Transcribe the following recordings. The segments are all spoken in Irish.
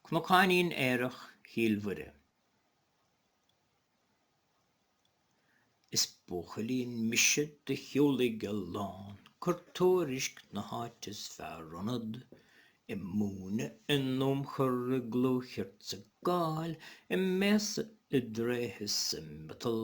Cnocáinín aerach Chill Mhuire. Is buachaillín mise do shiúlaigh a lán cur tuairisc na háite is fearr ionad, i múineadh, i n-iomchar, i gclú cheart 's i gcáil, i mbéasa, i dtréithe 's i miotal.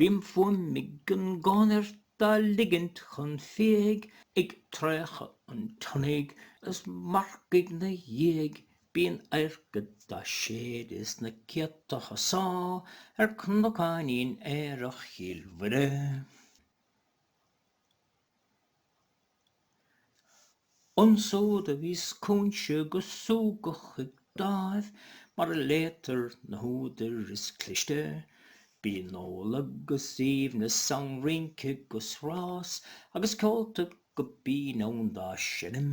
Bíonn fuaim ag an gconairt dá ligint chun fiaigh ag traochadh an tsionnaigh is marcaigh 'na dhiaidh bíonn adharca dá séideadh is na céadta husá ar cnocáinín aerach Chill Mhuire. Ansiúd a bhíos Cúinse go súgach ag dáimh mar a léitear na húdair is cliste, bíonn ól agus aoibhneas ann rince 'gus rás agus ceolta go binn ann dá seinm.